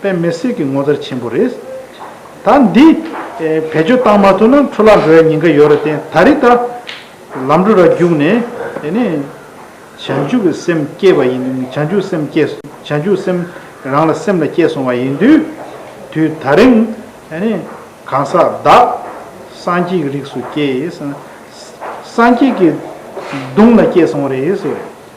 པའི་མེ་བསྲེགས་ཀྱི་ངོ་མཚར་ཆེན་པོ་རེད། ད་འདི་བེད་སྤྱོད་བཏང་མ་ཐུབ་ན་འཕྲོ་བརླག་འགྲོ་ཡ་ཉེན་ཁ་ཡོད་ར་བརྟེན་ད་རི་ད། ལམ་འགྲོ་ར་རྒྱུགས་ནས་དེ་ནས་བྱང་ཆུབ་ཀྱི་སེམས་སྐྱེས་པ་ཡིན་དུས་བྱང་ཆུབ་སེམས་སྐྱེས་བྱང་ཆུབ་སེམས་རང་ལ་སེམས་ལ་སྐྱེས་སོང་བ་ཡིན་དུས་དུས་ད་རིང་གང་ཟག་བདག་སངས་རྒྱས་ཀྱི་རིགས་སུ་སྐྱེས་སངས་རྒྱས་ཀྱི་གདུང་ལ་སྐྱེས་སོང་བ་རེད།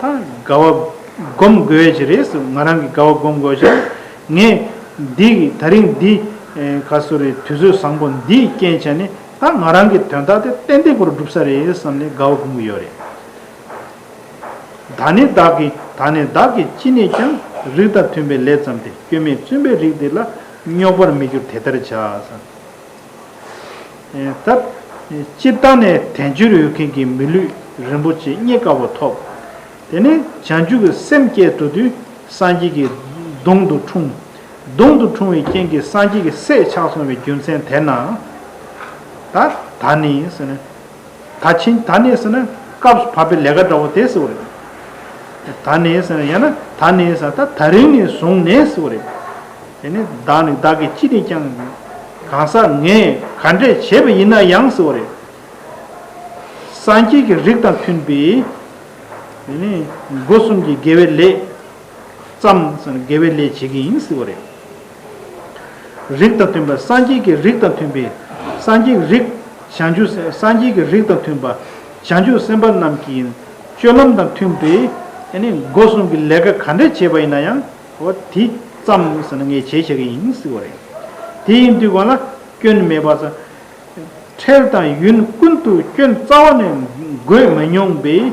དགའ་བ་སྒོམ་དགོས་ཀྱི་རེད་ཟེར་ང་རང་གིས་དགའ་བ་སྒོམ་དགོས་ཀྱང་ངས། འདི་ད་རིང་འདི། ག་སོ་རེད་དུས་ཚོད་བཟང་པོ་འདིས་རྐྱེན་བྱས་ནས་ད་ང་རང་གི་དོན་དག་དེ་ཏན་ཏིག་པོར་བསྒྲུབ་ས་རེད་བསམ་ནས་དགའ་བ་སྒོམ་གི་ཡོད་རེད། ད་ནི་བདག་གིས་ད་ནི་བདག་གིས་ཅི་ནས་ཀྱང་རིགས་དང་མཐུན་པའི་ལས་བརྩམས་ཏེ་སྐྱོན་མེད་བཙུན་པའི་རིགས་འདི་ལ་རྙོག་པར་མི་འགྱུར་དེ་ལྟར་བྱ། སྟབས། སྤྱིར་བཏང་ནས་དལ་འབྱོར་ཡོད་མཁན་གྱི་མི་ལུས་རིན་པོ་ཆེ་རྙེད་དཀའ་བ་ཐོབ། དེ་ནས་བྱང་ཆུབ་ཀྱི་སེམས་བསྐྱེད་དོ་དུས་སངས་རྒྱས་ཀྱི་གདུང་དུ་འཁྲུངས། གདུང་དུ་འཁྲུངས་བའི་རྐྱེན་གྱིས་སངས་རྒྱས་ཀྱི་སྲས་ཆགས་སོང་བའི་རྒྱུ་མཚན་དེས་ན། ད་ནི། ད་ཕྱིན་ད་ནས་ཟེར་ན་སྐབས་སུ་བབ་པའི་ལས་ཀ་འདྲ་བོ་དེ་ཟེར་བ་རེད། ད་ནས་ཟེར་ན་ཡང་ན་ད་ནས་ཟེར་ན་ད་རིང་ནས་བཟུང་ནས་ཟེར་བ་རེད། དེ་ནས་བདག་ནི་བདག་གི་ཅི་ནས་ཀྱང་གང་ཟག་ངས་ག་འདྲས་བྱས་པ་ཡིན་ན་ཡང་ཟེར་བ་རེད། སངས་རྒྱས་ཀྱི་རིགས་དང་མཐུན་པའི། དེ་ནས་སྒོ་གསུམ་གྱི་དགེ་བའི་ལས། བརྩམས་ཟེར་ན་དགེ་བའི་ལས་བྱེད་ཀྱི་ཡིན་ཟེར་བ་རེད། རིགས་དང་མཐུན་པ་སངས་རྒྱས་ཀྱི་རིགས་དང་མཐུན་པའི་སངས་རྒྱས་ཀྱི་རིགས། བྱང་ཆུབ་སངས་རྒྱས་ཀྱི་རིགས་དང་མཐུན་པ་བྱང་ཆུབ་སེམས་དཔའ་རྣམས་ཀྱི་སྤྱོད་ལམ་དང་མཐུན་པའི། སྒོ་སྲུང་གི་ལས་ཀ་ག་འདྲ་བྱས་པ་ཡིན་ན་ཡང། དེ་ཙམ་ཟེར་ན་ངས་བྱས་བྱས་ཀྱི་ཡིན་སྲིད་པ་རེད། དེ་ཡིན་དུས་གང་ལ་སྐྱོན་མེད་པར། འཕྲལ་དང་ཡུན་ཀུན་ཏུ་སྐྱོན་རྩ་བ་ནས་འགོས་མི་མྱོང་པའི།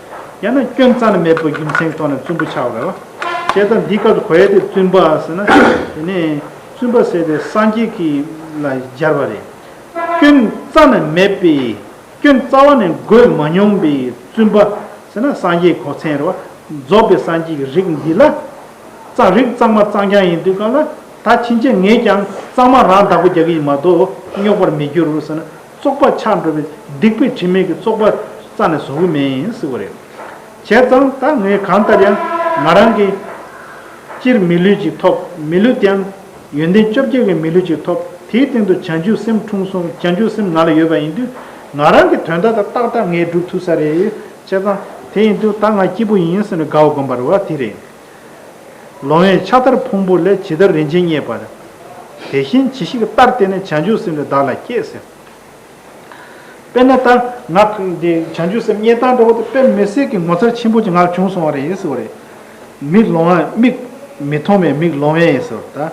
ཡང་ན་སྐྱོན་རྩ་ན་མེད་པའི་རྒྱུ་མཚན་རྟོགས་ན་བཙུན་པོ་ཆགས་པའི་བ། ཞེས་དང་འདི་སྐབས་གོ་ཡ་དེ་བཙུན་པ་ཟེར་ན་དེ་ནས་བཙུན་པ་ཟེར་ཏེ་སངས་རྒྱས་ཀྱི་ལ་སྦྱར་བ་རེད། སྐྱོན་རྩ་ན་མེད་པའི་སྐྱོན་རྩ་བ་ནས་བགོས་མ་མྱོང་པའི་བཙུན་པ་ཟེར་ན་སངས་རྒྱས་གོ་མཚན་རེད་བ། རྫོགས་པའི་སངས་རྒྱས་ཀྱི་རིགས་འདི་ལ་རྩ་རིག་གཙང་མ་གཙང་རྐྱང་ཡིན་དུས་སྐབས་ལ་ད་ཕྱིན་ཆད་ངས་ཀྱང་གཙང་མ་རང་བདག་པོ་རྒྱག་གི་ཡིན་མ་གཏོགས་རྙོག་པར་མི་འགྱུར་ཟེར་ན། བཙོག་པ་ཆགས་འགྲོ་བའི་སྡིག་པའི་དྲི་མེད་ཀྱི་བཙོག་པ་རྩ་ནས་བཟོ་གི་མེད་ཡིན་སྲིད་པ་རེད། བྱས་ཙང་ད་ངས་གང་ལྟར་ཡང་ང་རང་གིས་སྤྱིར་མི་ལུས་ཅིག་ཐོབ་མི་ལུས་དེའང་ཡོན་ཏན་བཅོ་བརྒྱད་ཀྱི་མི་ལུས་ཅིག་ཐོབ་དེའི་སྟེང་དུ་བྱང་ཆུབ་སེམས་འཁྲུངས་སོང་བྱང་ཆུབ་སེམས་ང་ལ་ཡོད་པ་ཡིན་དུས་ང་རང་གི་དོན་ད་ལྟ་ཏག་ཏག་ངས་སྒྲུབ་ཐུབ་ས་རེད། བྱས་ཙང་དེ་ཡིན་དུས་ད་ང་སྐྱིད་པོ་ཡིན་ཟེར་ནས་དགའ་བ་སྒོམ་པར་བ་དེ་རེད། ལོང་བས་ཕྱག་དར་ཕུང་པོ་ལས་ཇི་ལྟར་རིན་ཆེན་རྙེད་པར། དེ་བཞིན་ཇི་ཞིག་ལྟར་བལྟས་ནས་བྱང་ཆུབ་སེམས་ལས་བདག་ལ་བསྐྱེད་ཟེར། དཔེར་ན་ལྟར་ངག་གི་བྱང་ཆུབ་སེམས་རྙེད་སྟངས་འདྲ་བོ་དེ་དཔེར་མི་སྲེག་གི་ངོ་མཚར་ཆེན་པོ་ཅི་ངག་བྱུང་སོང་བ་རེད་ཟེར་བ་རེད། མིག་ལོང་བས་མིག་མི་མཐོང་བས་མིག་ལོང་བས་ཟེར་བ་ལྟར།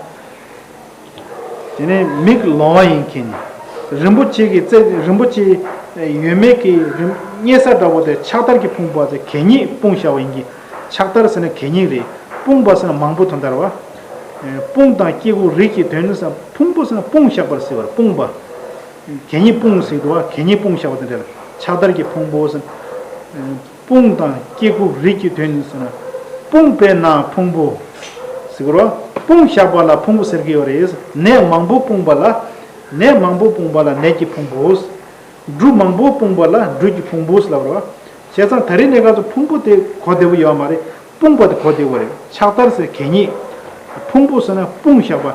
དེ་ནས་མིག་ལོང་བ་ཡིན་གྱིན། རིན་པོ་ཆེ་གི་རྩེ་རིན་པོ་ཆེ་ཡོད་མེད་ཀྱི་རྙེད་ས་འདྲ་བོ་དེ་ཕྱག་དར་གྱིས་སྤུངས་པ་དེ་གད་སྙིགས་སྤུངས་ཤ་བ་ཡིན་གྱིན། ཕྱག་དར་ཟེར་ན་གད་སྙིགས་རེད། སྤུངས་པ་ཟེར་ན་མང་པོ་དོན་དར་བ། སྤུངས་དང་སྐྱེ་དགུ་རིགས་ཀྱི་དོན་ཟེར་ན་ཕུང་པོ་ཟེར་ན་སྤུངས་ཤག་པར་ཟེར་བར་སྤུངས་པ། གད་སྙིགས་སྤུངས་ཟེར་དུ་བ་གད་སྙིགས་སྤུངས་ཤ་བ་དང་འདྲ་ལ་ཕྱག་དར་གྱིས་ཕུང་པོ་ཟེར། དཔུང་དང་སྐྱེ་དགུ་རིགས་ཀྱི་དོན་ནི་ཟེར་ན། དཔུང་དཔེར་ན་ཕུང་པོ། གཟིགས་རོ། དཔུང་བཞག་པ་ལ་ཕུང་པོ་ཟེར་གྱི་ཡོད་རེད། ནད་མང་པོ་སྤུངས་པ་ལ། ནད་མང་པོ་སྤུངས་པ་ལ་ནད་ཀྱི་ཕུང་པོ། འབྲུ་མང་པོ་སྤུངས་པ་ལ་འབྲུ་གྱི་ཕུང་པོ་ལབ་རོ། བྱས་ཙང་ད་རེས་གནས་སྐབས་སུ་ཕུང་པོ་དེ་གོ་བདེ་བོ་ཡོད་མ་རེད། སྤུངས་པ་དེ་གོ་བདེ་བོ་རེད། ཕྱག་དར་ཟེར་གད་སྙིགས། ཕུང་པོ་ཟེར་ན་དཔུང་བཞག་པ།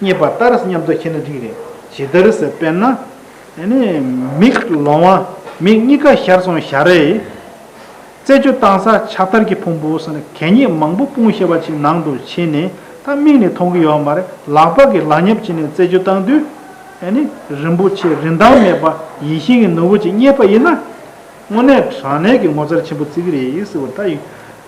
རྙེད་པ་ལྟར་སྙམ་དུ་ཤེས་ན་འགྲིག་རེད་ཇི་ལྟར་ཟེར་དཔེར་ན། མིག་ལོང་བ་མིག་གཉིས་ཀ་ཞར་སོང་བཞག་རེད། རྩེད་འཇོ་བཏང་ས་ཕྱག་དར་གྱི་ཕུང་པོ་སོགས་གད་སྙིགས་མང་པོ་སྤུངས་ཤེས་པ་ཅིག་ནང་དུ་ཕྱིན་ནས་ད་མིག་ནས་མཐོང་གི་ཡོད་མ་རེད་ལག་པ་གིས་ལག་ཉབ་བྱས་ནས་རྩེད་འཇོ་བཏང་དུས། རིན་པོ་ཆེ་རིན་ཐང་མེད་པ་ཡིན་ཤེས་ཀྱི་ནོར་བུ་ཅིག་རྙེད་པ་ཡིན་ན། དངོས་གནས་དྲང་གནས་ཀྱི་ངོ་མཚར་ཆེན་པོ་བརྩི་གི་རེད་ཟེར་བ་ལྟ་ཡིན།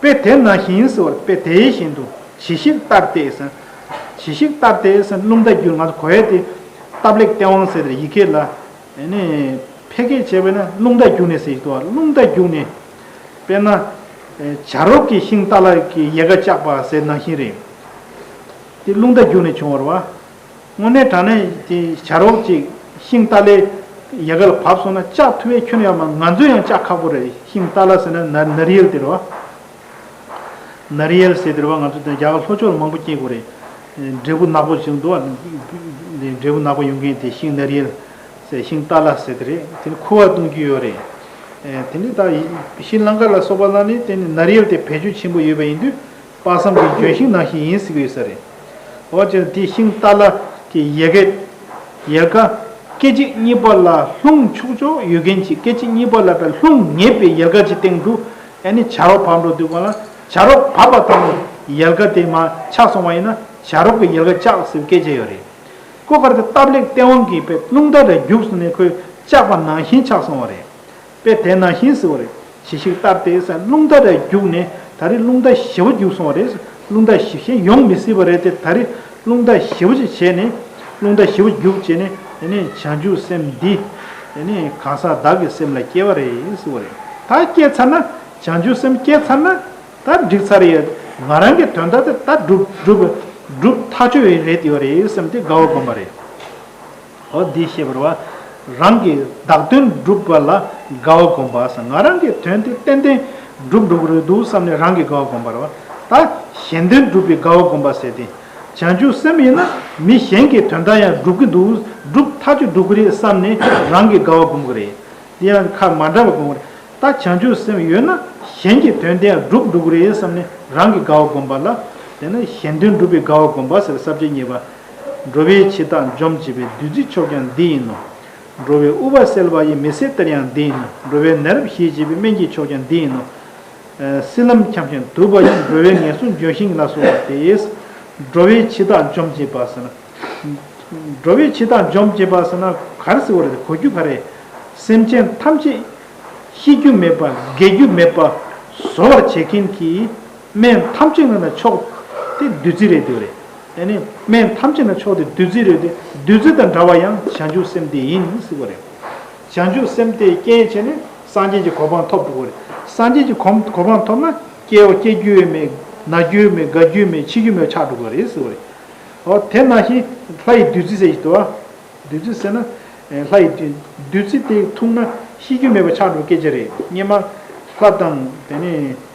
དཔེ་དེ་ན་ཞིང་སྲི་བར་དཔེ་དེའི་བཞིན་དུ་ཇི་ཞིག་ལྟར་ཏེ། ཇི་ཞིག་ལྟར་ཏེ། རླུང་རྟ་རྒྱུད་ང་དུ་གོ་ཡ་སྟེ། སྟབས་ལེགས་སྟེས་དབང་གསལ་དེར་ཡི་གེ་ལ། ཕལ་སྐད་བྱས་པས་ན་རླུང་རྟ་རྒྱུག་ནས་ཟེར་ཞིག་ཏུ་བ་རླུང་རྟ་རྒྱུག་ནས། དཔེར་ན། བྱ་རོག་གི་ཤིང་རྟ་ལ་ཡལ་ག་བཅག་པ་ཟེར་ན་ཞིང་རེད། དེ་རླུང་རྟ་རྒྱུག་ནས་བྱུང་བར་བ། དངོས་གནས་དྲང་གནས་བྱ་རོགས་ཅིག་ཤིང་རྟ་ལས་ཡལ་ག་ལ་བབས་སོང་ན་ལྕགས་མཐུ་བས་ཁྱོད་ཡང་མང་ང་ཚོ་ཡང་ལྕགས་ཁ་པོ་རེད་ཤིང་རྟ་ལ་ཟེར་ན་ན་རི་ཡལ་ཟེར་བ། ན་རི་ཡལ་ཟེར་ཟེར་བ་ང་ཚོ་རྒྱ་གར་ལྷོ་ཕྱོགས་ལ་མང་པོ་སྐྱེས་དགོས་རེད། འབྲས་བུ་ནག་པོ་ཞིག་འདུག་འབྲས་བུ་ནག་པོ་ཡོང་མཁན་དེ་ཤིང་ན་རི་ཡལ་ཟེར་ཤིང་རྟ་ལ་ཟེར་དེ་རེད་དེ་ནི་ཁུ་བ་བཏུང་རྒྱུ་ཡོད་རེད། དེ་ནི་ད་ཤྲི་ལངྐ་ལ་སོགས་པ་ལ་ནི་དེ་ནི་ན་རི་ཡལ་དེ་བེད་སྤྱོད་ཆེན་པོ་ཡོད་པ་ཡིན་དུས་དཔག་བསམ་གྱི་ལྗོན་ཤིང་ནང་བཞིན་ཡིན་གཟིགས་ཡོད་ས་རེད། འོ་ཅོ་དེ་ཤིང་རྟ་ལ་གི་ཡལ་ག། ཡལ་ག། སྐད་ཅིག་གཉིས་པ་ལ་ལྷུང་ཆུག་ཆོག་ཡོད་མཁན་གྱིས་སྐད་ཅིག་གཉིས་པ་ལ་བས་ལྷུང་ངེས་པའི་ཡལ་ག་གྱི་སྟེང་དུ་ཨེ་ནི་བྱ་རོག་བབས་འགྲོ་འདུག་གང་ལ་བྱ་རོག་བབས་པ་དང་ཡལ་ག་དེ་མ་ཆགས་སོང་བ་ཡིན་ན་བྱ་རོག་གི་ཡལ་ག་བཅག་ཟེར་བའི་སྐད་ཆ་ཡོད་རེད། སྐུ་དཀར་དེ་སྟབས་ལེགས་སྟེས་དབང་གིས་བས་ལྷུང་ད་རེ་རྒྱུགས་སོང་ནས་ཁོས་བཅག་པ་ནང་བཞིན་ཆགས་སོང་བ་རེད། པས་དེ་ནང་བཞིན་ཟེར་བ་རེད། གཞི་ཞིག་ལྟར་དེ་སར་རླུང་རྟ་རེ་རྒྱུགས་ནས་ད་རེས་རླུང་རྟ་བཞི་བ་རྒྱུགས་སོང་བ་རེད། རླུང་རྟ་བཞི་གཞན་ཡོང་མི་སྲིད་པ་རེད་དེ་ད་རེས་རླུང་རྟ་བཞི་བ་ཅིག་བྱས་ནས། རླུང་རྟ་བཞི་བ་རྒྱུགས་བྱས་ནས་དེ་ནས་བྱང་ཆུབ་སེམས་འདི། དེ་ནས་གང་ཟག་བདག་གི་སེམས་ལ་སྐྱེ་བ་རེད་ཟེར་བ་རེད། ད་སྐྱེས་ཚར་ན། བྱང་ཆུབ་སེམས་སྐྱེས་ཚར་ན། ད་འགྲིགས་ཚར་ཡོད། ང་རང་གི་དོན་དག་དེ་ད་སྒྲུབ། སྒྲུབ་ཐག་ཆོད་ཡོད་རེད་དེ་ཡོད་རེད་སེམས་དེ་དགའ་བ་སྒོམ་པ་རེད། འོ་འདི་ཤེས་པར་བ། རང་གི་བདག་དོན་བསྒྲུབ་པ་ལ་དགའ་བ་སྒོམ་པ་བསམ་ང་རང་གི་དོན་དེ་ཏན་ཏན་བསྒྲུབ་འགྲོ་གི་རེད་འདུག་བསམ་ནས་རང་གི་དགའ་བ་སྒོམ་པར་བ། ད་གཞན་དོན་བསྒྲུབ་པའི་དགའ་བ་སྒོམ་པ་ཟེར་ཏེ། བྱང་ཆུབ་སེམས་ཡིན་ན་མི་གཞན་གྱི་དོན་དག་ཡང་སྒྲུབ་ཀྱི་འདུག་སྒྲུབ་མཐའ་གཅིག་འགྲོ་གི་རེད་བསམ་ནས་རང་གི་དགའ་བ་སྒོམ་གི་རེད། དེ་ཡང་ཁ་མ་འདྲ་བ་སྒོམ་གི་རེད། ད་བྱང་ཆུབ་སེམས་ཡོད་ན་གཞན་གྱི་དོན་དེ་ཡང་སྒྲུབ་འགྲོ་གི་རེད་བསམ་ནས་རང་གི་དགའ་བ་སྒོམ་པ་ལ། དེ་ནི་གཞན་དོན་བསྒྲུབ་པའི་དགའ་བ་སྒོམ་པ་ཟེར་བསམ་བྱེད་གཉིས་པ། འགྲོ་བའི་འཆི་བདག་འཇོམས་བྱེད་པའི་བདུད་རྩི་མཆོག་ཀྱང་འདི་ཡིན་ནོ། འགྲོ་བའི་དབུལ་བ་སེལ་བ་ཡི་མི་སེར་གཏེར་ཡང་འདི་ཡིན་ནོ། འགྲོ་བའི་ནད་རབ་ཞི་བྱེད་པའི་སྨན་གྱི་མཆོག་ཀྱང་འདི་ཡིན་ནོ། སྲིད་ལམ་འཁྱམས་ཤིང་དུབ་པ་ཡང་འགྲོ་བའི་ངལ་གསོ་འཇོ་ཞིང་ལ་སོགས་པ་སྟེ། འགྲོ་བའི་འཆི་བདག་འཇོམས་བྱེད་པ་ཟེར་ན། འགྲོ་བའི་འཆི་བདག་འཇོམས་བྱེད་པ་ཟེར་ན་གར་སེར་བོ་རེད་གོ་རྒྱུ་ག་རེ། སེམས་ཅན་ཐམས་ཅད། ཤི་རྒྱུ་མེད་པ་རྒས་རྒྱུ་མེད་པ་བཟོ་བར་བྱེད་མཁན་གྱི། སྨན་ཐམས་ཅད་ནི་མཆོག། དེ་བདུད་རྩི་རེད་དེ། སྨན་ཐམས་ཅད་ནི་མཆོག་དེ་བདུད་རྩི་རེད་དེ། བདུད་རྩི་དང་འདྲ་བ་ཡང་བྱང་ཆུབ་སེམས་དེ་ཡིན་སྲིད་པ་རེད། བྱང་ཆུབ་སེམས་དེ་སྐྱེས་བྱས་ནས་སངས་རྒྱས་ཀྱི་གོ་འཕང་ཐོབ་འགྲོ་བ་རེད། སངས་རྒྱས་ཀྱི་གོ་འཕང་ཐོབ་ན་སྐྱེ་བ་སྐྱེ་རྒྱུ་མེད། ན་རྒྱུ་མེད་དགའ་རྒྱུ་མེད་འཆི་རྒྱུ་མེད་ཆགས་འགྲོ་བ་རེད་སྲིད་པ་རེད། ཨོ་དེ་ན་ཞིག་ལྷ་ཡི་བདུད་རྩི་ཟེར་གྱི་འདུག་ཨ། བདུད་རྩི་ཟེར་ན། ལྷ་ཡི་བདུད་རྩི་དེ་འཐུང་ན་ཤི་རྒྱུ་མེད་པ་ཆགས་འགྲོ་སྐད་ཆ་རེད་སྙེ་མ། ལྷ་དང།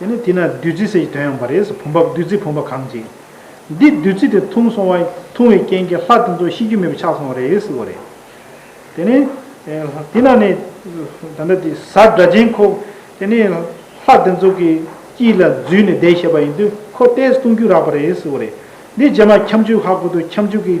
དེ་ནས་དེ་ན་བདུད་རྩི་ཟེར་གྱི་དོན་ཡོང་བ་རེད་བུམ་པ་བདུད་རྩི་བུམ་པ་གང་བྱེད། འདི་བདུད་རྩི་དེ་འཐུང་སོང་བ་འཐུང་བའི་རྐྱེན་གྱིས་ལྷ་དེ་ཚོ་ཤི་རྒྱུ་མེད་པ་ཆགས་སོང་བ་རེད་ཟེར་བ་རེད། དེ་ནས་དེ་ན་ནས་ད་ལྟ་དེ་ས་སྒྲ་ཅན་ཁོ་དེ་ནས་ལྷ་དེ་ཚོ་གི་དཀྱིལ་ལ་འཛུལ་ནས་བསྡད་ཤེས་པ་ཡིན་དུས་ཁོ་ལྟས་བཏུང་རྒྱུ་རག་པ་རེད་ཟེར་བ་རེད། འདི་རྗེས་མ་ཁྱབ་འཇུག་ཧ་གོ་དུས་ཁྱབ་འཇུག་གི་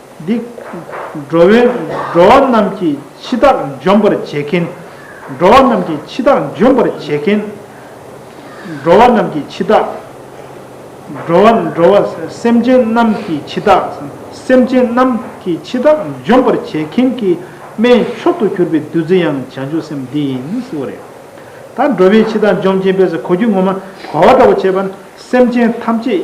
འདི། འགྲོ་བའི་འགྲོ་བ་རྣམས་ཀྱི་འཆི་བདག་འཇོམས་པར་བྱེད་མཁན། འགྲོ་བ་རྣམས་ཀྱི་འཆི་བདག་འཇོམས་པར་བྱེད་མཁན། འགྲོ་བ་རྣམས་ཀྱི་འཆི་བདག། འགྲོ་བ་འགྲོ་བ་སེམས་ཅན་རྣམས་ཀྱི་འཆི་བདག། སེམས་ཅན་རྣམས་ཀྱི་འཆི་བདག་འཇོམས་པར་བྱེད་མཁན་གྱི་སྨན་མཆོག་ཏུ་གྱུར་པའི་བདུད་རྩི་ཡང་བྱང་ཆུབ་སེམས་འདི་ཡིན་ཟེར་བ་རེད། ད་འགྲོ་བའི་འཆི་བདག་འཇོམས་མཁན་པས་གོ་རྒྱུ་ངོ་མ་གོ་བ་འདྲ་བོ་བྱས་པ་ན་སེམས་ཅན་ཐམས་ཅད།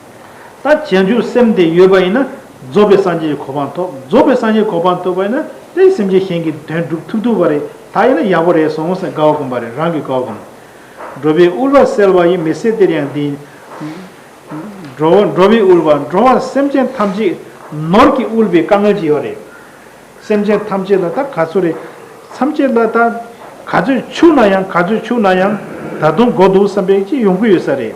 ད་བྱང་ཆུབ་སེམས་དེ་ཡོད་པ་ཡིན་ན་རྫོགས་པའི་སངས་རྒྱས་ཀྱི་གོ་འཕང་ཐོབ་རྫོགས་པའི་སངས་རྒྱས་གོ་འཕང་ཐོབ་པ་ཡིན་ན་དེའི་སེམས་ཅན་གཞན་གྱི་དོན་སྒྲུབ་ཐུབ་ཐུབ་པ་རེད་ད་ཡིན་ན་ཡག་པོ་རེད་སོང་ཟེར་དགའ་བ་སྒོམ་པ་རེད་རང་གི་དགའ་བ་སྒོམ། འགྲོ་བའི་དབུལ་བ་སེལ་བ་ཡི་མི་སེར་དེར་ཡང་འདི། འགྲོ་བ་འགྲོ་བའི་དབུལ་བ་འགྲོ་བ་སེམས་ཅན་ཐམས་ཅད་ནོར་གྱི་དབུལ་བའི་དཀའ་ངལ་གྱི་ཡོད་རེད། སེམས་ཅན་ཐམས་ཅད་ལ་ད་ག་ཚོད་རེད་མཚམས་ཅད་ལ་ད་ག་ཚོད་ཆུག་ན་ཡང་ག་ཚོད་ཆུག་ན་ཡང་ད་དུང་འགོ་འདུག་བསམ་པའི་ཅི་ཡོང་གི་ཡོད་ས་རེད།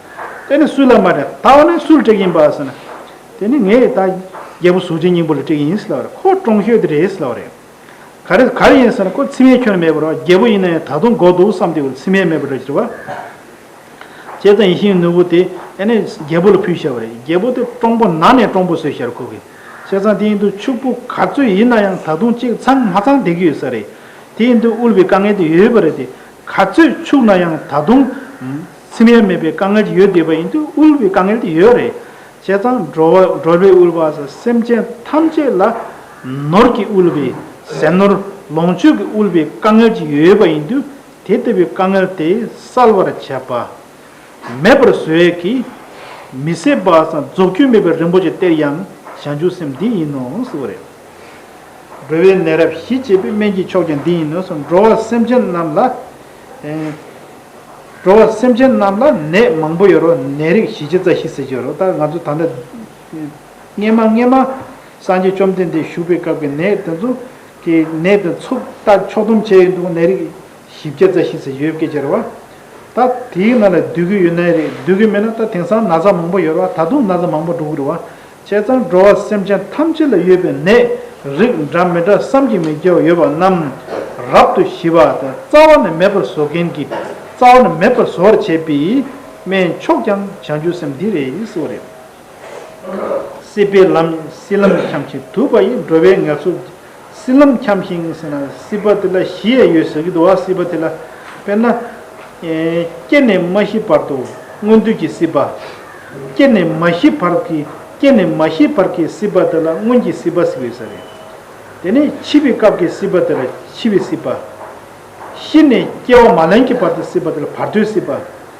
དེ་ནི་སུ་ལ་མ་དྲག་ད་བ་ནི་སུ་ལ་དྲེག་ཡིན་པ་ཟེར་ན། དེ་ནི་ངས་ད་རྒྱལ་པོ་གཟུགས་ཅན་སྙིང་པོ་ལ་དྲེག་ཡིན་ཟེར་ལབ་རེད་ཁོ་བཀྲོངས་ཤོས་དེ་རེད་ཟེར་ལབ་རེད། ག་རེ་ག་རེ་ཡིན་ཟེར་ན་ཁོ་ཚིམ་མེད་ཁྱོན་མེད་པར་རྒྱལ་པོ་ཡིན་ན་ཡང་ད་དུང་མགོ་འདུག་བསམ་དེ་བས་ཚིམ་མེད་མེད་པར་འདྲ་ཟེར་བ། བྱས་ཙང་ཡིན་ཞིང་ནུ་བོ་དེ་ཨེ་ནས་རྒྱལ་པོ་ལ་ཕུལ་བྱས་པ་རེད་རྒྱལ་པོ་དེ་བཀྲོངས་པོ་ན་ནས་བཀྲོངས་པོ་བཟོས་བྱས་ར་ཁོ་གི། བྱས་ཙང་དེ་ཡིན་དུ་ཕྱུག་པོ་ག་ཚོད་ཡིན་ན་ཡང་ད་དུང་གཅིག་ཚང་མ་ཚང་བསྡད་ཀྱི་ཡོད་ས་རེད། དེ་ཡིན་དུ་དབུལ་བའི་དཀའ་ངལ་དེ་ཡོད་པ་རེད་དེ་ག་ཚོད་ཕྱུག་ན་ཡང་ད་དུང། ཚིམ་ཡ་མེད་པའི་དཀའ་ངལ་ཡོད་བསྡད་པ་ཡིན་དུས་དབུལ་བའི་དཀའ་ངལ་དེ་ཡོད་རེད། བྱས་ཙང་འགྲོ་བ་འགྲོ་བའི་དབུལ་བ་ཟེར་སེམས་ཅན་ཐམས་ཅད་ལ་ནོར་གྱི་དབུལ་བའི་ཟས་ནོར་ལོངས་སྤྱོད་ཀྱི་དབུལ་བའི་དཀའ་ངལ་གྱི་ཡོད་པ་ཡིན་དུས་དེ་ལྟ་བུའི་དཀའ་ངལ་དེ་སེལ་བར་བྱས་པ་མེད་པར་བཟོས་ཀྱི་མི་སྲིད་པ་ཟ་རྫོགས་རྒྱུ་མེད་པའི་རིན་པོ་ཆེ་སྟེར་ཡང་བྱ་འཇུག་སེམས་འདི་ཡིན་ནོ་ཟེར་བ་རེད། འགྲོ་བའི་ནད་རབ་ཞི་བྱེད་པའི་སྨན་གྱི་མཆོག་ཀྱང་འདི་ཡིན་ནོ་ཟེར་འགྲོ་བ་སེམས་ཅན་རྣམས་ལ། འགྲོ་བ་སེམས་ཅན་རྣམས་ལ་ནད་མང་པོ་ཡོད་རུང་ནད་རིགས་ཞི་བྱེད་རྩ་ཤེས་སེལ་བྱེད་རུང་ལྟར་ང་ཚོ་ད་ལྟ་སྔན་མ་སྔན་མ་སངས་རྒྱས་བཅོམ་ལྡན་འདས་བཞུགས་པའི་སྐབས་ཀྱི་ནད་དེ་ཚོ་གི་ནད་དེ་ཚོ་ལྟ་ཕྱོགས་སྡོམ་བྱས་ཡོད་འདུག་ནད་རིགས་ཞི་བྱེད་རྩ་ཤེས་སེལ་བྱེད་ཡོད་སྐད་ཅེས་རེད་བ། ད་དེའི་ནང་ལས་སྡོད་ཀྱི་ཡོད་ནད་རིགས་སྡོད་ཀྱི་མེད་ན་ད་དེང་སང་ན་ཚ་མང་པོ་ཡོད་རེད་བ་ད་དུང་ན་ཚ་མང་པོ་འགྲོ་གི་རེད་བ། བྱས་ཙང་འགྲོ་བ་སེམས་ཅན་ཐམས་ཅད་ལ་ཡོད་པའི་ནད་རིགས་འདྲ་མི་འདྲ་བསམ་གྱིས་མི་ཁྱབ་པ་ཡོད་པ་རྣམས་རབ་ཏུ་ཞི་བ་དང་རྩ་བ་ནས་མེད་པར་བཟོ་མཁན་གྱི་རྩ་བ་ནས་མེད་པར་བཟོ་བར་བྱེད་པའི་སྨན་མཆོག་ཀྱང་བྱང་ཆུབ་སེམས་འདི་རེད་ཡིས་སོ་རེད། སྲིད་པའི་ལམ་སྲིད་ལམ་འཁྱམས་ཤིང་དུབ་པ་ཡིས་འགྲོ་བའི་ངལ་གསོ་སྲིད་ལམ་འཁྱམས་ཤིང་སྲིད་ན་སྲིད་པ་དེ་ལ་ཞི་ཡ་ཡོད་ཟེར་གྱི་འདུག་བ་སྲིད་པ་དེ་ལ་དཔེར་ན། སྐྱེས་ནས་མ་ཤི་བར་དུ་སྔོན་དུས་ཀྱི་སྲིད་པ། སྐྱེས་ནས་མ་ཤི་བར་གྱི་སྐྱེས་ནས་མ་ཤི་བར་གྱི་སྲིད་པ་དེ་ལ་སྔོན་གྱི་སྲིད་པ་ཟེར་གྱི་ཡོད་ས་རེད། དེ་ནས་འཆི་བའི་སྐབས་ཀྱི་སྲིད་པ་དེ་ལ་འཆི་བའི་སྲིད་པ། ཤི་ནས་སྐྱེ་བ་མ་ལེན་གྱི་བར་དུ་སྲིད་པ་དེ་ལ་བར་དོའི་སྲིད་པ།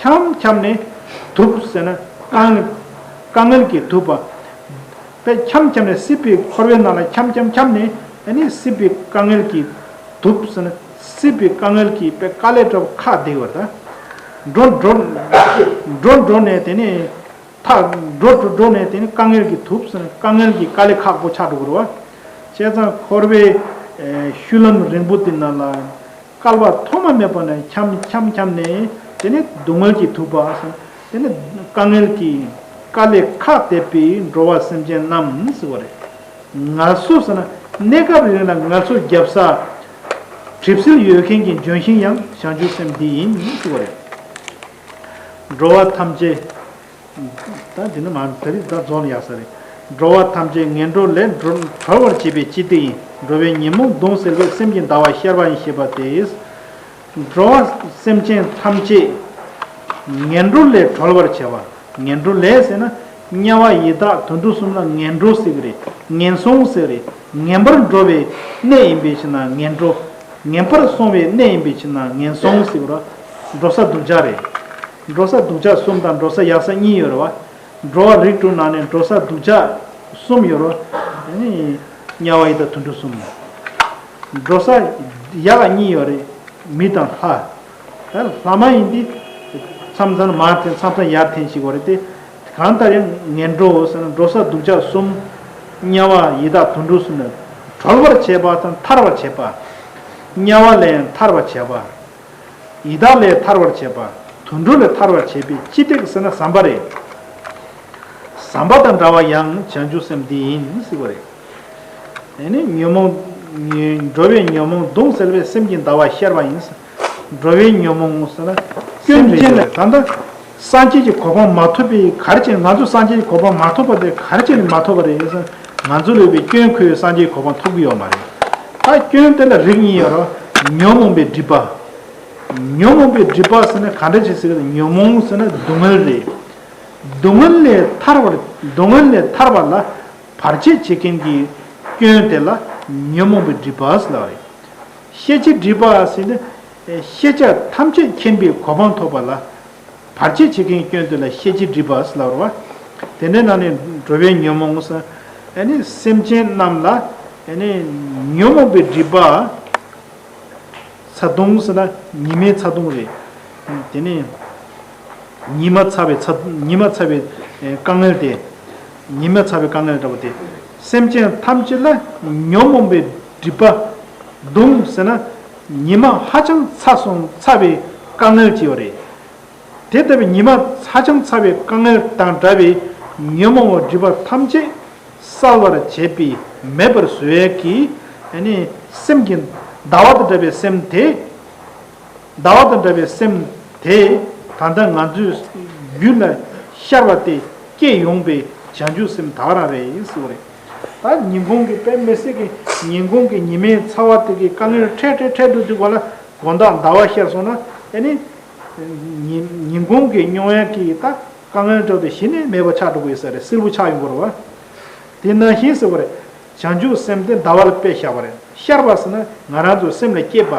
ཁྱམས་ཁྱམས་ནི་དུབ་ཟེར་ན་དཀའ་ངལ། དཀའ་ངལ་གྱིས་དུབ་པ། པའི་ཁྱམས་ཁྱམས་ནི་སྲིད་པའི་འཁོར་བའི་ནང་ལ་ཁྱམས་ཁྱམས་ཁྱམས་ནི་ནི་སྲིད་པའི་དཀའ་ངལ་གྱིས་དུབ་ཟེར་ན་སྲིད་པའི་དཀའ་ངལ་གྱིས་པའི་དཀའ་ལས་གྲོལ་བ་ཁ་བདེ་བར་དང། འགྲོ་འགྲོ། འགྲོ་འགྲོ་ནས་དེ་ནི་ཐག་འགྲོ་འགྲོ་འགྲོ་ནས་དེ་ནི་དཀའ་ངལ་གྱིས་དུབ་ཟེར་ན་དཀའ་ངལ་གྱིས་དཀའ་ལས་ཁག་པོ་ཆགས་འགྲོ་བར་བ། བྱས་ཙང་འཁོར་བའི་ཤུལ་ལམ་རིང་པོ་དེ་ན་ལ། བསྐལ་པ་ཐོག་མ་མེད་པ་ན་འཁྱམ་འཁྱམ་འཁྱམ་ནས་དེ་ནས་སྡུག་བསྔལ་གྱིས་ཐུག་པ་བསམ། དེ་ནས་དཀའ་ངལ་གྱིས་བསྐལ་ལས་ཁ་བལྟས་པས་འགྲོ་བ་སེམས་ཅན་རྣམས་ཟེར་བ་རེད། ང་ཚོ་བསམ་ན་གནས་སྐབས་རིང་ལ་ང་ཚོ་རྒྱབ་ས། གྲིབ་སེལ་ཡོད་མཁན་གྱི་ལྗོན་ཤིང་ཡང་བྱང་ཆུབ་སེམས་འདི་ཡིན་ཟེར་བ་རེད། འགྲོ་བ་ཐམས་ཅད། ད་འདི་ནི་མ་ད་རིག་ད་རྫོགས་ནི་ཡག་ས་རེད། འགྲོ་བ་ཐམས་ཅད་ངན་འགྲོ་ལས་འགྲོ་གྲོལ་བར་བྱེད་པའི་སྤྱི་རྟེ་ཡིན་འགྲོ་བའི་ཉིན་མོ་གདུང་སེལ་བས་སེམས་ཀྱི་འདའ་བ་བཤལ་བ་ཡིན་ཞེས་པ་དེས། འགྲོ་བ་སེམས་ཅན་ཐམས་ཅད་ངན་འགྲོ་ལས་གྲོལ་བར་བྱ་བ་ངན་འགྲོ་ལས་ཟེར་ན། དམྱལ་བ་ཡི་དྭགས་དུད་འགྲོ་གསུམ་ལ་ངན་འགྲོ་ཟེར་གི་རེད་ངན་སོང་ཟེར་རེད་ངན་པར་འགྲོ་བའི་གནས་ཡིན་པའི་ཕྱིར་ན་ངན་འགྲོ། ངན་པར་སོང་བའི་གནས་ཡིན་པའི་ཕྱིར་ན་ངན་སོང་ཟེར་གི་རོ། འགྲོ་ས་སྡུག་ཅག་རེད། འགྲོ་ས་འདུག་ཆ་གསུམ་དང་འགྲོ་ས་ཡག་ས་གཉིས་ཡོད་རེད་བ། འགྲོ་བ་རིགས་དྲུག་ནང་ནས་འགྲོ་ས་འདུག་ཆ་གསུམ་ཡོད་རོ། དམྱལ་བ་ཡི་དྭགས་དུད་འགྲོ་གསུམ། འགྲོ་ས་ཡག་གཉིས་ཡོད་རེད། མི་དང་ལྷ། ལྷ་མ་ཡིན་ཏེ། མཚམས་མཚམས་ན་མར་འཐེན་མཚམས་མཚམས་ཡར་འཐེན་ཞིག་ཡོད་རེད་དེ། གང་ལྟར་ཡང་ངན་འགྲོ་འོ་ཟེར་ན་འགྲོ་ས་འདུག་ཆ་གསུམ། དམྱལ་བ་ཡི་དྭགས་དུད་འགྲོ་གསུམ་ལས། གྲོལ་བར་བྱེད་པ་དང་ཐར་བར་བྱེད་པ། དམྱལ་བ་ལས་ཡང་ཐར་བར་བྱེད་པ། ཡི་དྭགས་ལས་ཐར་བར་བྱེད་པ། དུད་འགྲོ་ལས་ཐར་བར་བྱེད་པས་ཅི་སྟེགས་ཟེར་ན་ཟམ་པ་རེད། ཟམ་པ་དང་འདྲ་བ་ཡང་བྱང་ཆུབ་སེམས་འདི་ཡིན་སྲིད་པ་རེད། དེ་ནི་ཉོན་མོངས། འགྲོ་བའི་ཉོན་མོངས་གདུང་སེལ་བས་སེམས་ཀྱི་འདའ་བ་བཤལ་བ་ཡིན། འགྲོ་བའི་ཉོན་མོངས། སེམས་ཅན་ལ་ད་ལྟ། སངས་རྒྱས་ཀྱི་གོ་འཕང་མ་ཐོབ་པས་གར་བྱེད་ང་ཚོ་སངས་རྒྱས་ཀྱི་གོ་འཕང་མ་ཐོབ་པ་དེ་གར་བྱེད་ནི་མ་ཐོབ་པ་རེད་ས་ང་ཚོ་ལས་པའི་སྐྱོན་ཁོས་སངས་རྒྱས་གོ་འཕང་ཐོབ་གི་ཡོད་མ་རེད་ད་སྐྱོན་དེ་ལ་རིགས་གཉིས་ཡོད་རོ། ཉོན་མོངས་པའི་སྒྲིབ་པ། ཉོན་མོངས་པའི་སྒྲིབ་པ་ཟེར་ན་ག་འདྲ་ཞིག་ཟེར་ན་ཉོན་མོངས་ཟེར་ན་སྡུག་བསྔལ་རེད། སྡུག་བསྔལ་ལས་ཐར་བར་སྡུག་བསྔལ་ལས་ཐར་བ་ལ་བར་ཆད་བྱེད་མཁན་གྱི་སྐྱོན་དེ་ལ་ཉོན་མོངས་པའི་སྒྲིབ་པ་ཟེར་ལགས་རེད། ཤེས་བྱའི་སྒྲིབ་པ་ཟེར་ན། ཤེས་བྱ་ཐམས་ཅད་མཁྱེན་པའི་གོ་འཕང་ཐོབ་པ་ལ། བར་ཆད་བྱེད་མཁན་སྐྱོན་དེ་ལ་ཤེས་བྱའི་སྒྲིབ་པ་སླ་བར་བ། དེ་འདྲའི་ནང་ནས་འགྲོ་བའི་ཉོན་མོངས། སེམས་ཅན་རྣམས་ལ། ཉོན་མོངས་པའི་སྒྲིབ་པ། ཚ་གདུང། ཉི་མའི་ཚ་གདུང་རེད། དེ་ནས། ཉི་མ་ཚ་བའི་ཉི་མ་ཚ་བའི་དཀའ་ངལ་དེ། ཉི་མ་ཚ་བའི་དཀའ་ངལ་འདྲ་བོ་དེ། སེམས་ཅན་ཐམས་ཅད་ལ་ཉོན་མོངས་པའི་སྒྲིབ་པ། གདུང། ཉི་མ་ཧ་ཅང་ཚ་སོང་ཚ་བའི་དཀའ་ངལ་སྐྱེས་བ་རེད། དེ་ལྟ་བུའི་ཉི་མ་ཧ་ཅང་ཚ་བའི་དཀའ་ངལ་དང་འདྲ་བའི་ཉོན་མོངས་བ་སྒྲིབ་པ་ཐམས་ཅད་བསལ་བར་བྱེད་པའི་མེད་པར་བཟོད་ཡལ་གྱི་སེམས་ཀྱི་ཟླ་བ་དང་འདྲ་བའི་སེམས་དེ། ཟླ་བ་དང་འདྲ་བའི་སེམས་དེ་ད་ལྟ་ང་ཚོའི་རྒྱུད་ལ་ཤར་བ་སྟེ་སྐྱེས་ཡོང་པའི་བྱང་ཆུབ་སེམས་དག་རང་རེད། ད་ཉིན་གུང་གི་པད་མེ་བསྲེགས་ཀྱི་ཉིན་གུང་གི་ཉི་མའི་ཚ་བ་དེ་གིས་དཀའ་ངལ་འཕྲད་འཕྲད་འཕྲད་དུ་འདུག་པ་ལ་དགོན་བདག་ཟླ་བ་ཤར་སོང་ན་ཨེ་ནི། ཉིན་གུང་གི་སྨྱོ་བས་ཀྱིས་ད་དཀའ་ངལ་འཕྲད་དུ་གཞི་ནས་མེད་པ་ཆགས་འགྲོ་གི་ཡོད་ས་རེད་སིལ་བུ་ཆགས་ཡོང་གི་རེད་བ། དེ་ནང་བཞིན་ཟེར་བ་རེད། བྱང་ཆུབ་སེམས་དེ་ཟླ་བ་ལ་དཔེ་བཞག་པ་རེད་ཤར་བ་ཟེར་ན་ང་རང་ཚོའི་སེམས་ལ་སྐྱེས་པ།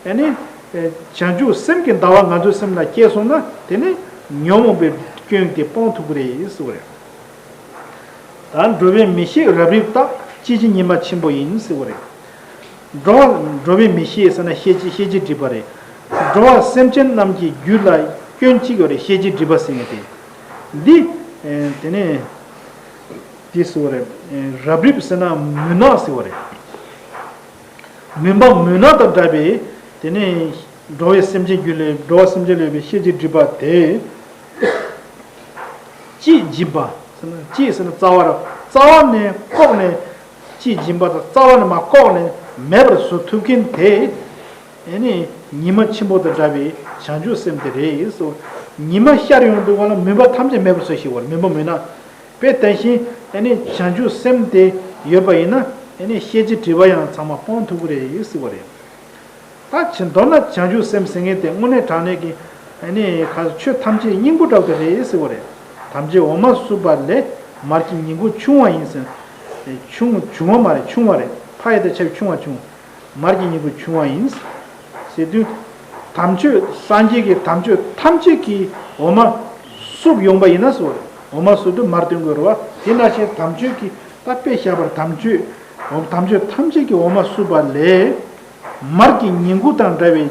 ཨེ་ནི། བྱང་ཆུབ་སེམས་ཀྱི་ཟླ་བ་ང་ཚོའི་སེམས་ལ་སྐྱེས་སོང་ན་དེ་ནི་ཉོན་མོངས་པའི་སྐྱོན་གྱིས་སྤང་ཐུབ་ཀྱི་རེད་ཟེར་བ་རེད། ད་འགྲོ་བའི་མི་ཤེས་རབ་རིབ་རྟག། ཅི་བྱེད་ཉི་མ་ཆེན་པོ་ཡིན་ཟེར་བ་རེད། འགྲོ་བའི་མི་ཤེས་ཟེར་ན་ཤེས་ཀྱི་ཤེས་ཀྱི་སྒྲིབ་པ་རེད། འགྲོ་བ་སེམས་ཅན་རྣམས་ཀྱི་རྒྱུད་ལ་སྐྱོན་གཅིག་ཡོད་རེད་ཤེས་ཀྱི་སྒྲིབ་པ་ཟེར་ངེས་ཏེ། འདི། དེ་ནས། དེ་ཟེར་བ་རེད། རབ་རིབ་ཟེར་ན་མུན་ནག་ཟེར་བ་རེད། མུན་པ་མུན་ནག་དང་འདྲ་བས། དེ་ནས། འགྲོ་བའི་སེམས་ཅན་རྒྱུད་ལས་འགྲོ་བ་སེམས་ཅན་ལས་པའི་ཤེས་ཀྱི་སྒྲིབ་པ་དེ། ཅེས་སྦྱིན་པ། ཅེས་ཟེར་ན་རྩ་བ། རྩ་བ་ནས་བཀོག་ནས། ཅེས་སྦྱིན་པ་དང་རྩ་བ་ནས་མ་བཀོག་ནས་མེད་པར་བཟོ་ཐུབ་མཁན་དེ། ཨེ་ནི། ཉི་མ་ཆེན་པོ་དང་འདྲ་བའི་བྱང་ཆུབ་སེམས་དེ་རེད་ཟེར་བ། ཉི་མ་ཤར་ཡོང་དུས་བ་ལང་མུན་པ་ཐམས་ཅད་མེད་པར་བཟོ་ཞིག་བ་ལང་མུན་པ་མུན་ནག་པའི་དེ་བཞིན་ཨེ་ནི་བྱང་ཆུབ་སེམས་དེ་ཡོད་པ་ཡིན་ན། ཨེ་ནི་ཤེས་བྱའི་དྲི་བ་ཡང་ཚང་མ་སྤོང་ཐུབ་ཀི་རེད་ཟེར་བ་རེད། ད་ཅི་མདོར་ན་བྱང་ཆུབ་སེམས་ཟེར་མཁན་དེ་དངོས་གནས་དྲང་གནས་ཀྱི། ནི། ཆོས་ཐམས་ཅད་སྙིང་པོ་དྲག་པའི་རེད་ཟེར་བ་རེད། དམ་བཅའི་འོ་མ་བསྲུབས་པ་ལས་མར་གྱི་ཉིང་ཁུ་ཆུང་བ་ཡིན་ཟེར། ཆུང། བྱུང་བ་མ་རེད་ཆུང་བ་རེད། ཕ་ཡི་དེ་ཆབ་ཆུང་བ་ཆུང། མར་གྱི་ཉིང་ཁུ་ཆུང་བ་ཡིན། ཟེར་དུས། དམ་ཆོས་སངས་རྒྱས་ཀྱི་དམ་ཆོས་ཐམས་ཅད་ཀྱི་འོ་མ། བསྲུབས་ཡོང་པ་ཡིན་ན་ཟེར་བ་རེད། འོ་མ་བསྲུབས་དུས་མར་སྟོན་དགོས་རེད་བ། དེ་སྔ་ཕྱིར་དམ་ཆོས་ཀྱི་ད་དཔེ་བཞག་པར་དམ་ཆོས། དམ་ཆོས་ཐམས་ཅད་ཀྱི་འོ་མ་བསྲུབས་པ་ལས། མར་གྱི་ཉིང་ཁུ་དང་འདྲ་བའི།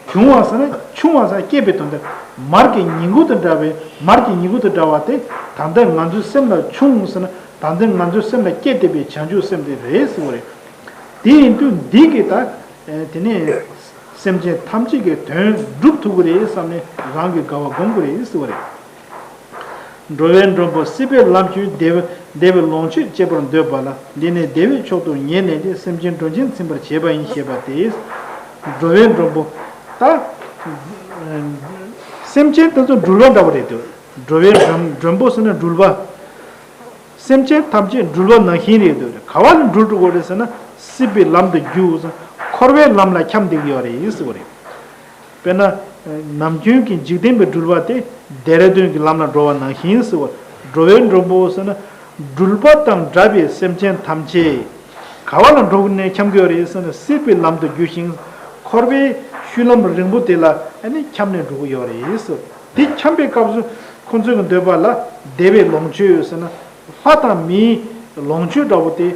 ཆུང་བ་སངས་རྒྱས་པའི་དོན་དེ། མར་གྱི་ཉིང་ཁུ་དང་འདྲ་བའི། མར་གྱི་ཉིང་ཁུ་དང་འདྲ་བ་དེ། དང་དེ་ང་ཚོའི་སེམས་ལ་ཆུང་ཟེར་ན། དང་དེ་ང་ཚོའི་སེམས་ལ་སྐྱེ་བདེ་བའི་བྱང་ཆུབ་སེམས་དེ་རེད་ཟེར་བ་རེད། དེ་ཡིན་དུས་འདི་གིས་ད། དེ་ནས། སེམས་ཅན་ཐམས་ཅད་ཀྱི་དོན་བསྒྲུབ་ཐུབ་ཀྱི་རེད་བསམ་ནས་རང་གི་དགའ་བ་སྒོམ་དགོས་རེད་ཟེར་བ་རེད། འགྲོ་བའི་མགྲོན་པོ་སྲིད་པའི་ལམ་ཁྱོད་བདེ། བདེ་བའི་ལོངས་སྤྱོད་སྤྱད་པར་འདོད་པ་ལ་འདི་ནས་བདེ་བའི་མཆོག་ཏུ་ངེས་གནས་ཏེ་སེམས་ཅན་སྒྲོན་ཆེན་ཚིམ་པར་བྱེད་པ་ཡིན་ཞེས་པ་སྟེ། འགྲོ་བའི་མགྲོན་པོ། ད། སེམས་ཅན་ད་ཚུར་འགྲུལ་བ་འདྲ་བ་རེད་དོ། འགྲོ་བའི་མགྲོན་པོ་ཟེར་ན་འགྲུལ་བ། སེམས་ཅན་ཐམས་ཅད་འགྲུལ་བ་ནང་བཞིན་རེད་དོ། ག་བ་ལ་འགྲུལ་འགྲོ་དགོས་རེད་ཟེར་ན། སྲིད་པའི་ལམ་དུ་རྒྱུགས། འཁོར་བའི་ལམ་ལ་འཁྱམས་འདུག་ཡོད་རེད་ཟེར་བ་རེད། དཔེར་ན། ནམ་རྒྱུན་གྱི་འཇིག་རྟེན་པའི་སྦྲུལ་བ་དེ་རྡེ་ར་རྡུན་གྱི་ལམ་ལ་འགྲོ་བ་ནང་བཞིན་ཟེར་བ། འགྲོ་བའི་མགྲོན་པོ་ཟེར་ན། སྦྲུལ་པ་དང་འདྲ་བའི་སེམས་ཅན་ཐམས་ཅད། ག་བ་ལ་འགྲོ་ནས་འཁྱམས་གི་རེད་ཟེར་ན་སྲིད་པའི་ལམ་དུ་རྒྱུ་ཞིང། འཁོར་བའི་བཤུལ་ལམ་རིང་པོ་དེ་ལ་འཁྱམས་ནས་འགྲོ་གི་ཡོད་རེད་ཟེར། དེ་འཁྱམས་པའི་སྐབས་སུ་ཁོ་ཚོས་གི་འདོད་པ་ལ་བདེ་བའི་ལོངས་སྤྱོད་ཟེར་ན། ལྷ་དང་མིའི་ལོངས་སྤྱོད་འདྲ་བོ་དེ།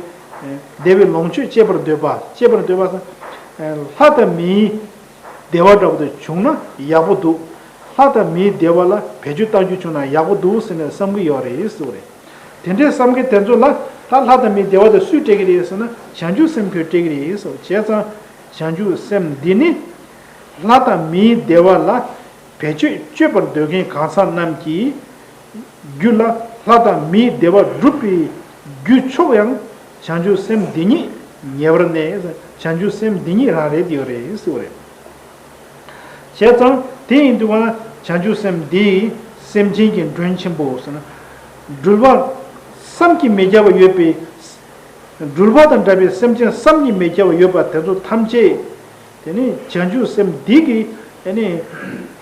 བདེ་བའི་ལོངས་སྤྱོད་སྤྱད་པར་འདོད་པ་སྤྱད་པར་འདོད་པ། ལྷ་དང་མིའི་བདེ་བ་འདྲ་པོ་དེ་བྱུང་ན་ཡག་པོ་འདུག་ལྷ་དང་མིའི་བདེ་བ་ལ་བེད་སྤྱོད་བཏང་རྒྱུ་བྱུང་ན་ཡག་པོ་འདུག་ཟེར་ནས་བསམ་གི་ཡོད་རེད་ཟེར་བ་རེད། དེ་འདྲའི་བསམ་མཁན་དེ་ཚོ་ལ་ད་ལྷ་དང་མིའི་བདེ་བ་དེ་སུས་སྤྲད་ཀྱི་རེད་ཟེར་ན་བྱང་ཆུབ་སེམས་ཁོས་སྤྲད་ཀྱི་རེད་ཟེར་བ་བྱས་ཙང་བྱང་ཆུབ་སེམས་འདི་ནི་ལྷ་དང་མིའི་བདེ་བ་ལ་བེད་སྤྱོད་སྤྱོད་པར་འདོད་མཁན་གང་ཟག་རྣམས་ཀྱི་རྒྱུད་ལ་ལྷ་དང་མིའི་བདེ་བ་སྒྲུབ་པའི་རྒྱུ་ཕྱོགས་ཡང་བྱང་ཆུབ་སེམས་འདི་ཉིད་ཉེ་བར་གནས། བྱང་ཆུབ་སེམས་འདི་ཉིད་རང་རེད་དེ་ཡོད་རེད་ཞེས་པ་རེད། བྱས་ཙང་དེ་ཡིན་དུས་བ་ན་བྱང་ཆུབ་སེམས་འདི་སེམས་ཅན་གྱི་མགྲོན་ཆེན་པོ་ཟེར་ན། སྦྲུལ་པ་བསམ་གྱིས་མི་ཁྱབ་པ་ཡོད་པའི། སྦྲུལ་པ་དང་འདྲ་བའི་སེམས་ཅན་བསམ་གྱིས་མི་ཁྱབ་པ་ཡོད་པ་དེ་ཚོ་ཐམས་ཅད། དེ་ནི་བྱང་ཆུབ་སེམས་འདི་གིས་དེ་ནི།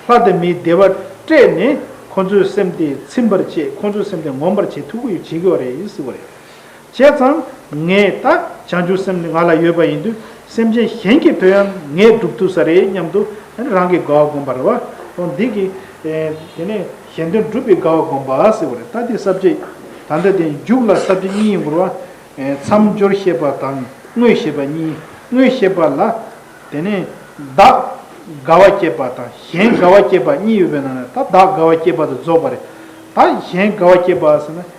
ལྷ་དང་མིའི་བདེ་བ་སྤྲད་ནས་ཁོ་ཚོའི་སེམས་དེ་ཚིམ་པར་བྱེད་ཁོ་ཚོའི་སེམས་དེ་ངོམས་པར་བྱེད་ཐུགས་ཁུར་བྱེད་དགོས་པ་རེད་ཞེས་པ་རེད། བྱས་ཙང། ངས་ད་བྱང་ཆུབ་སེམས་ནི་ང་ལ་ཡོད་པ་ཡིན་དུས་སེམས་ཅན་གཞན་གྱི་དོན་ཡང་ངས་བསྒྲུབ་ཐུབ་ས་རེད་སྙམ་དུ་རང་གི་དགའ་བ་བསྒོམ་པར་བ་དང་འདི་གིས། དེ་ནས་གཞན་དོན་བསྒྲུབ་པའི་དགའ་བ་བསྒོམ་པ་ཟེར་བ་རེད་ད་དེ་ཟབ་ཁྱད། ད་ལྟ་དེ་མཇུག་ལ་ཟབ་ཁྱད་གཉིས་ཡིན་འགོར་བ། མཚམས་སྦྱོར་ཤེས་པ་དང་དངོས་ཤེས་པ་གཉིས་དངོས་ཤེས་པ་ལ། དེ་ནས་བདག་དགའ་བ་སྐྱེས་པ་དང་གཞན་དགའ་བ་སྐྱེས་པ་གཉིས་ཡོད་པའི་ནང་ནས་ད་བདག་དགའ་བ་སྐྱེས་པ་དེ་རྫོགས་པ་རེད། ད་གཞན་དགའ་བ་སྐྱེས་པ་ཟེར་ན།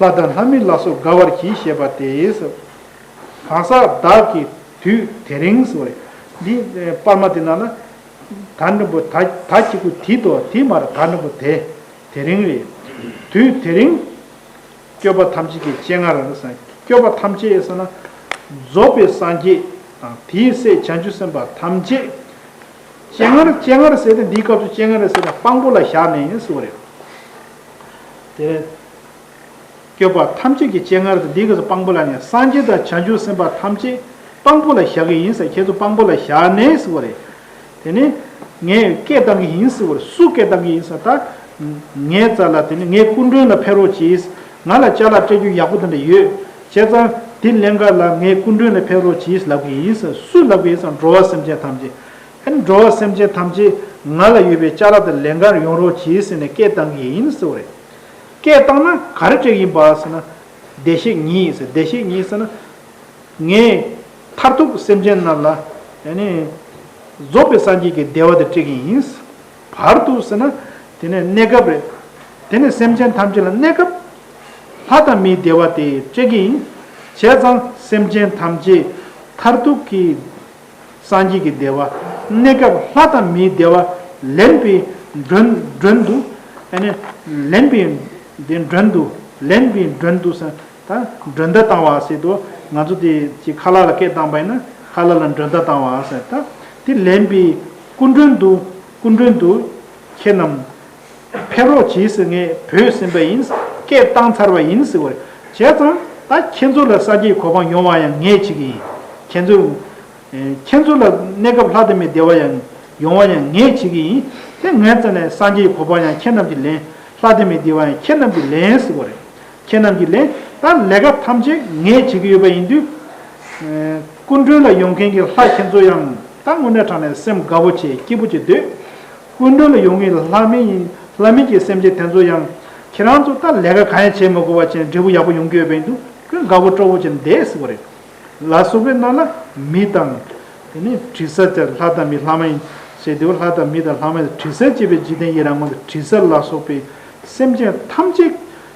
ལྷ་དང་ལྷ་མིན་ལ་སོགས་དགའ་བར་གྱིས་ཞེས་པ་དེས་སོ། གང་ཟག་བདག་གི་དུས་དེ་རིང་སོ། འདི་པར་མ་དེ་ན་ལ། ད་འབྲིང་པོ་ད་ད་གཅིག་པུ་དེ་དོ་དེ་མ་ར་ད་འབྲིང་པོ་དེ། དེ་རིང་རེ། དུས་དེ་རིང། སྐྱོབ་པ་ཐམས་ཅད་ཀྱི་སྤྱན་སྔ་ར་ས། སྐྱོབ་པ་ཐམས་ཅད་ས་ན། རྫོགས་པའི་སངས་རྒྱས་དང་དེའི་སྲས་བྱང་ཆུབ་སེམས་དཔའ་ཐམས་ཅད། སྤྱན་སྔར་སྤྱན་སྔར་ཟེར་ཏེ་འདིའི་སྐབས་སུ་སྤྱན་སྔར་ཟེར་ན་དཔང་པོ་ལ་བཞག་ནས་སོ། བསྐྱོད་པ་ཐམས་ཅད་ཀྱི་སྤྱན་སྔར་དུ་འདི་སྐད་དུ་སྤང་པོ་ལ་ནི་སངས་རྒྱས་དང་བྱང་ཆུབ་སེམས་དཔའ་ཐམས་ཅད་སྤང་པོ་ལ་བཞག་གི་ཡིན་ཟེར་ཁྱེད་ཚོ་སྤང་པོ་ལ་བཞག་ནས་ཟེར་བ་རེད། དེ་ནས་ངས་སྐད་བཏང་གི་ཡིན་ཟེར་བར་སུ་སྐད་བཏང་གི་ཡིན་ཟེར་ད། ངའི་རྩ་ལ་དེ་ནས་ངའི་སྐུ་མགྲོན་ལ་ཕེབས་རོགས་གྱིས། ང་ལ་བཅའ་ལག་སྤྲད་རྒྱུ་ཡག་པོ་དེ་འདྲ་ཡོད། བྱས་ཙང་དེ་ལན་འགའ་ལ་ངའི་སྐུ་མགྲོན་ལ་ཕེབས་རོགས་གྱིས་ལབ་གི་ཡིན་ཟེར་སུ་ལབ་གི་ཡིན་ཟེར་འགྲོ་བ་སེམས་ཅན་ཐམས་ཅད། ཧད་འགྲོ་བ་སེམས་ཅན་ཐམས་ཅད་ང་ལ་ཡོད་པའི་ལྕགས་ར་དང་ལན་འགར་ཡོང་རོགས་གྱིས་ཟེར་ནས་སྐད་བཏང་གི་ཡིན་ཟེར་བ་རེད། སྐད་བཏང་ན་ག་རེ་བྱེད་ཀྱི་ཡིན་པ་ཟེར་ན། བདེ་གཤེགས་ཉིད་ཟེར་བདེ་གཤེགས་ཉིད་ཟེར་ན། ངས་མཐར་ཐུག་སེམས་ཅན་རྣམས་ལ། རྫོགས་པའི་སངས་རྒྱས་ཀྱི་བདེ་བ་དེ་སྤྲད་ཀྱི་ཡིན། བར་དུ་ཟེར་ན། དེ་ནས་གནས་སྐབས་རེད། དེ་ནས་སེམས་ཅན་ཐམས་ཅད་ལ་གནས་སྐབས། ལྷ་དང་མིའི་བདེ་བ་དེ་སྤྲད་ཀྱི་ཡིན། བྱས་ཙང་སེམས་ཅན་ཐམས་ཅད་མཐར་ཐུག་གི། སངས་རྒྱས་ཀྱི་བདེ་བ། གནས་སྐབས་ལྷ་དང་མིའི་བདེ་བ། ལེན་པའི་མགྲོན་དུ། ལེན་པའི་མགྲོན་དུ། ལེན་པའི་མགྲོན་དུ། མགྲོན་བརྡ་བཏང་བ་ཟེར་དུ། ང་ཚོ་དེ་ཅིག་ཁ་ལག་ལ་སྐད་བཏང་པ་ཡིན་ན། ཁ་ལག་ལ་མགྲོན་བརྡ་བཏང་བ་ཟེར། དེ་ལེན་པའི་སྐུ་མགྲོན་དུ། སྐུ་མགྲོན་དུ། ཁྱེད་རྣམས། ཕེབས་རོགས་གྱིས་ཟེར་ངས་བོས་ཟིན་པ་ཡིན། སྐད་བཏང་ཚར་བ་ཡིན་ཟེར་བར་བྱས་ཙང་ད་ཁྱེད་ཚོ་ལ་ས་སྐྱའི་གོ་འཕང་ཡོང་བ་ཡང་ངས་བྱེད་ཀྱི་ཡིན། ཁྱེད་ཚོ། ཁྱེད་ཚོ་ལ་གནས་སྐབས་ལྷ་དེ་མི་བདེ་བ་ཡང་ཡོང་བ་ཡང་ངས་བྱེད་ཀྱི་ཡིན། དེ་ངས་ཙང་ནས་ས་སྐྱའི་གོ་འཕང་ཡང་ཁྱེད་རྣམས་ཀྱིས་ལེན། ལྷ་དེ་མི་བདེ་བ་ཡང་ཁྱེད་རྣམས་ཀྱིས་ལེན་ཟེར་བ་རེད། ཁྱེད་རྣམས་ཀྱིས་ལེན་ད་ལས་ཀ་ཐམས་ཅད་ངས་བྱེད་ཀྱི་ཡོད་པ་ཡིན་དུས། སྐུ་མགྲོན་ལ་ཡོང་མཁན་གྱི་ལྷ་ཁྱེད་ཚོ་ཡང་ད་དངོས་གནས་དྲང་ནས་སེམས་དགའ་བོ་བྱེད་སྐྱིད་པོ་བྱེད་སྡོད། སྐུ་མགྲོན་ལ་ཡོང་ངེས་ལ་ལྷག་མིན་ཡིན། ལྷག་མིན་གྱི་སེམས་ཅན་དེ་ཚོ་ཡང། ཁྱེད་རང་ཚོ་ལྟར་ལས་ཀ་གང་ཡང་བྱེད་མི་དགོས་པ་ཅན་འབྲས་བུ་ཡག་པོ་ཡོང་གི་ཡོད་པའི་འདུག་ཀྱང་དགའ་བོ་སྤྲོ་བོ་ཅན་འདས་ཟིག་པ་རེད། ལ་སོགས་པའི་ནང་ལ། མི་དང། དེ་ནས་དྲི་ཟ་དེ་ལྷ་དང་མི་ལྷག་མ་ཡིན། ཞེས་དེའུ་ལྷ་དང་མི་དང་ལྷག་མ་ཡིན་ལ་དྲི་ཟ་ཅེས་པའི་འཇིག་རྟེན་ཡི་རང་ངོ་དང་དྲི་ཟ་ལ་སོགས་པའི་སེམས་ཅན་ཐམས་ཅད།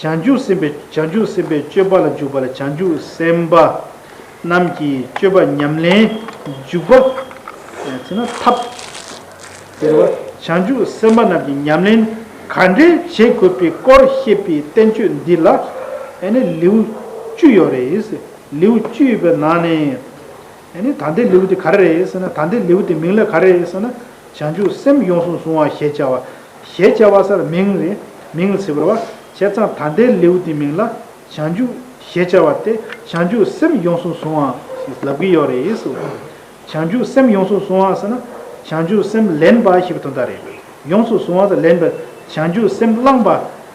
བྱང་ཆུབ་སེམས་དཔའི་བྱང་ཆུབ་སེམས་དཔའི་སྤྱོད་པ་ལ་འཇུག་པ་ལ་བྱང་ཆུབ་སེམས་དཔའ་རྣམས་ཀྱི་སྤྱོད་པ་ཉམས་ལེན་འཇུག་པ། ཚེ་ན་ཐབས། དེ་ལ་བྱང་ཆུབ་སེམས་དཔའ་རྣམས་ཀྱི་ཉམས་ལེན་ག་འདྲའི་བྱེད་དགོས་པའི་སྐོར་བཤད་པའི་བསྟན་བཅོས་འདི་ལ་ནི་ལེའུ་བཅུ་ཡོད་རེད། ལེའུ་བཅུ་ཡོད་པའི་ནང་ནས། ཡང་ནི་དམ་པའི་ལེའུ་དེ་ག་རེ་རེད་ཟེར་ན་དམ་པའི་ལེའུ་དེ་མིང་ལ་ག་རེ་རེད་ཟེར་ན། བྱང་ཆུབ་སེམས་ཡོངས་སུ་བཟུང་བ་ཞེས་བྱ་བ། ཞེས་བྱ་བ་སར་མིང་རེད། མིང་ལ་ཚིག་བར་བ། བྱས་ཙང་དམ་པའི་ལེའུ་དེའི་མིང་ལ། བྱང་ཆུབ། ཞེས་བྱ་བ་སྟེ་བྱང་ཆུབ་སེམས་ཡོངས་སུ་བཟུང་བ། ཞེས་ལབ་ཀྱི་ཡོད་རེད། བྱང་ཆུབ་སེམས་ཡོངས་སུ་བཟུང་བ་ཟེར་ན། བྱང་ཆུབ་སེམས་ལེན་པ་ཞེས་པའི་དོན་དག་རེད། ཡོངས་སུ་བཟུང་བ་དང་ལེན་པ། བྱང་ཆུབ་སེམས་བླངས་པ།